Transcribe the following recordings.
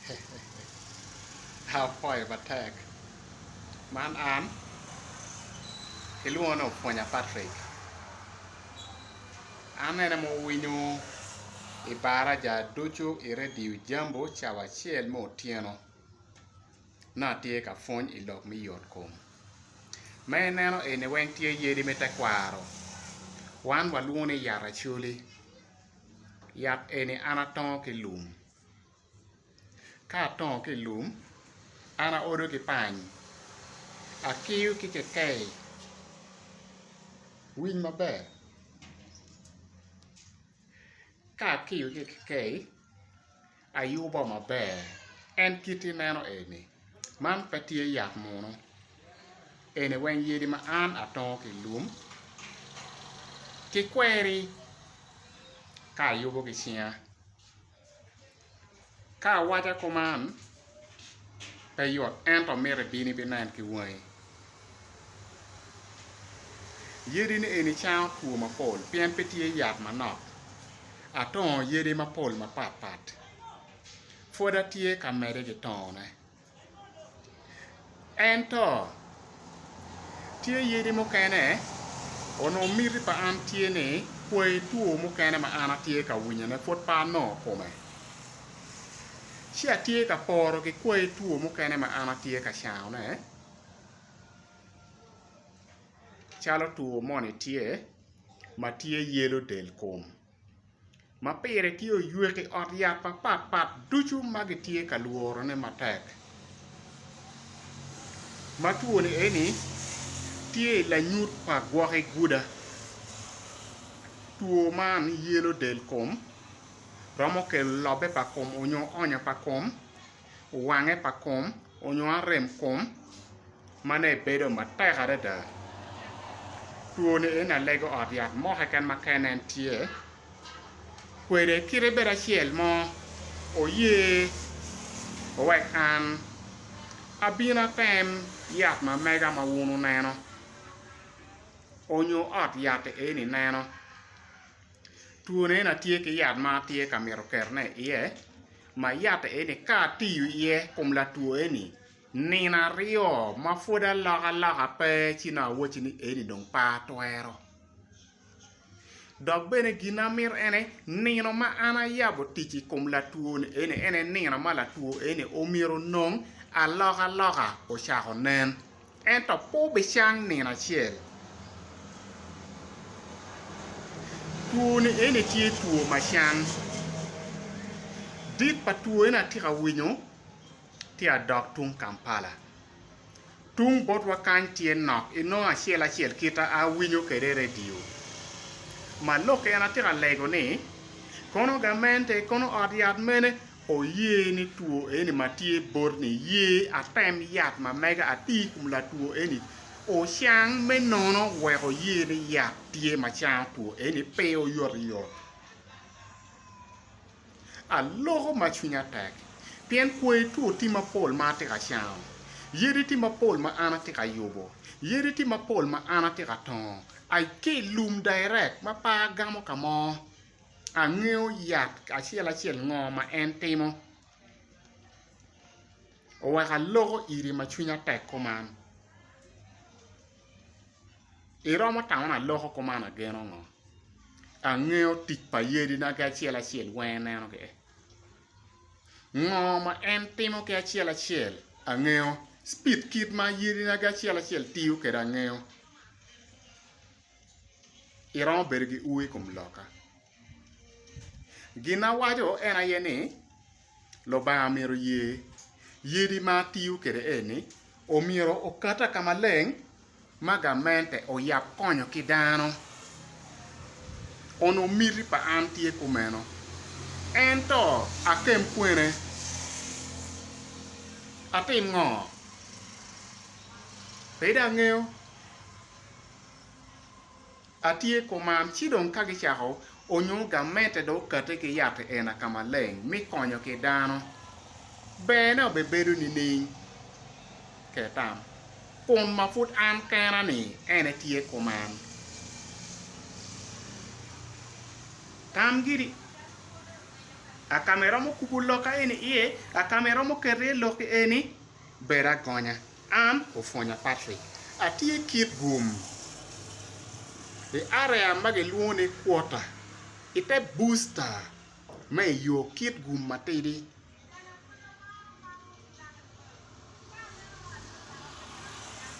Hehehehe apwoyo matek man an kilwongo ni opwonya Patrick an ene ma owinyo i baraja ducu i radio Jambo cawa acel me otyeno nongo atye ka pwony i lok me yotkom ma ineno eni weng tye yadi me tekwaro wan walwongo ni yat acoli yat eni an atongo ki lum. Ka atongo ki i lum, an aodo ki pany, akiyo ki kekei, winy maber, ka akiyo ki i kekei ayubo maber en kit ma ineno eni man pe tye yat munu eni weng yadi ma an atongo ki i lum ki kweri ka ayubo ki cinga. Ka awaca kuman, pe yot, ento amito ibino ibinen ki wangi. Yadini eni cango two mapol pien pe tye yat manok. Atongo yadi mapol mapat pat. Pwod atye ka mede ki tongone. Ento, tye yadi mukene onongo miti pa an tye ni kwai two mukene ma an atye ka winyone pud pe anongo kome. Ci atye ka poro ki kwai two mukene ma an atye ka cangone calo two moni tye ma tye yelo del kom. ma pire tye oywek i ot yat mapat pat ducu ma gitye ka lworone matek ma twone eni tye i lanyut pa gwoki guda two man yelo del kom romo kelo lobbe pa kom onyo onya pa kom wange pa kom onyo arem kom ma ne bedo matek adada. Two ni en alego ot yat mo keken ma ka en en tye kwede kite bedo acel mo oye owek an abin atem yat ma mega ma wun wuneno onyo ot yat eni neno. Twone en aye tye ki yat ma atye ka mito ketone iye ma yat eni ka atiyo iye i kom latwo eni nino aryo ma pud alokaloka pe ci dong awaci ni eni dong pe atwero dok bene gin ma amito en aye nino ma an ayabo tic i kom latwo ni eni en aye nino ma latwo eni omyero onong alokaloka ocako nen. Ento pe obicang nino acel. Two ni eni tye two ma cang. Dit pa two eni atye ka winyo tye adok tung Kampala. Tung botwa kany tye nok inongo acel acel kita awinyo kede i radio. Ma lok en atye ka lego ni kono gamente kono ot yat mene Oye ni two eni ma tye bot ni ye atem yat ma mega ati ikom latwo eni ocang me nono weko ye ni yat tye ma cango two eni pe oyot yot. Aloko ma cwinya tek pien kwer two ti ma pol ma ati ka cango, yadi ti ma pol ma an ati ka yubo, yadi ti ma pol ma an ati ka tongo, I ki ilum direct ma pe agamo ka mo. Angeyo yat acel acel ngo ma en timo. Oweko aloko iri ma cwinya tek kuman. Iromo tamo ni aloko kuman ageno ngo? Angeyo tic pa yadi na ki acel acel weng ineno kede. Ngo ma en timo ki acel acel angeyo. Speed kit ma yadi na ki acel acel tiyo kede angeyo. iromo bedo ki ur i kom lokka. Gin awaco en aye ni Lubanga myero oye yadi ma atiyo kwede eni myero okata ka maleng ma gamente oyab konyo ki dano. Onongo miti pa an tye kumeno ento akem kwene atim ngo? Pe dong angeyo. Atye kuman ci dong ka gicako onyo gamete dong okate ki yat i ena ka maleng mi konyo ki dano, berne obe bedo nining? Ket tam, Kun ma pud an kena-ni en etye kuman. Tam giri, A ka ma iromo kubo lok eni iye? A ka ma iromo keto iye lok eni? Bed agonya. An, Opwonya Patrick, atye kit gum i area ma gilwongo ni quarter i te booster ma i yo kit gum matidi.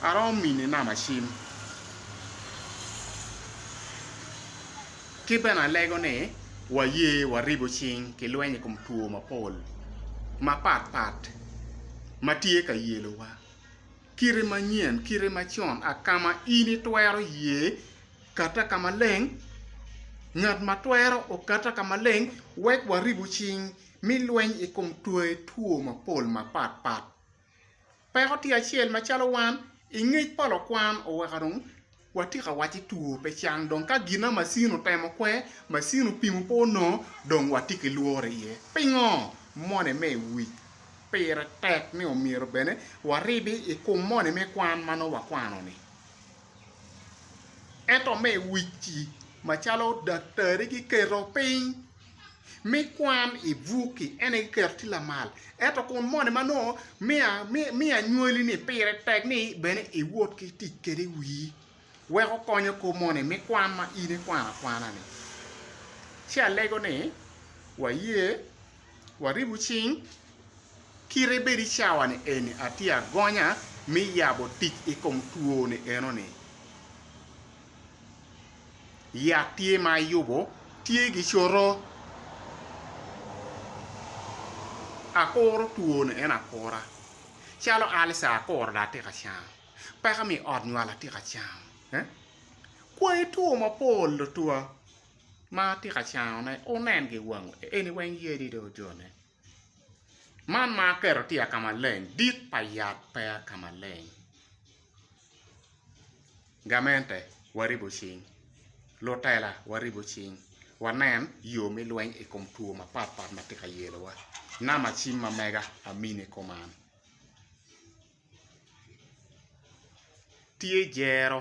Aromo mini namba cim. Ki bene alego ni waye waribo cing ki lweny i kom two mapol mapat pat ma tye ka yelowa. Kite manyen, kite macon, akama in itwero ye kata ka maleng, ngat ma twero okata ka maleng wek waribo cing mi lweny i kom twae two mapol mapat pat Peko tye acel macalo wan i ngec pa lukwan oweko dong watye ka waco ni two pe cang dong ka gin ma macin otemo kwe, macin opimo pe onongo dong watye ki lworo iye. Pingo? Moni me i wic pire tek ni omyero bene waribi i kom moni me kwan ma nongo wakwano-ni. Ento me i wic-ci macalo daktari giketo piny me kwan i bukki en aye kiketo tye lamal ento kun moni ma nongo miyo anywali ni pire tek ni bene iwot ki tic kwede i wii weko konyo kor moni me kwan ma in ikwano akwana ni ci alego ni waye waribu cing kite bed i cawa ni eni atye agonya me yabo tic i kom two ni eno ni yat tye ma ayubo tye ki coto, akuro twone en akura calo alca akuro dong atye ka cango peko me i ot nywal atye ka cango kwayi two mapol tutwa ma atye ka cangone wunen ki wangu eni weng yadi dong ojone. Man ma aketo tye ka ma leng dit pa yat peya ka maleng gamente waribo cing lutela waribo cing wanen yo me lweny i kom two mapat pat ma tye ka yelowa namba cim ma mega amini i koma tye jero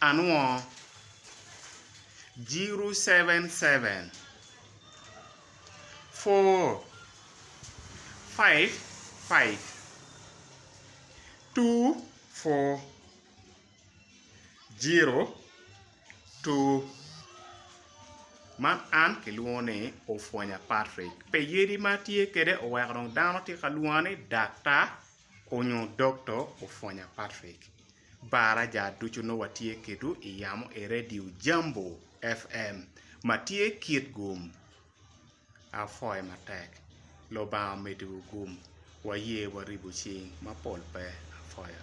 anwo zero seven seven four five five two four zero two man an kilwongo ni opwonya Patrick pi yadi ma atye kwede oweko dong dano tye ka lwonga ni daktar. Onyo dokto opwonya Patrick. Bara ja ducu nongo watye kedwu i yamo i Radio Jambo FM ma tye kit gum. Apwoyo matek. Lubanga omeddiwu gum. Waye waribu cing mapol pe. Apwoyo.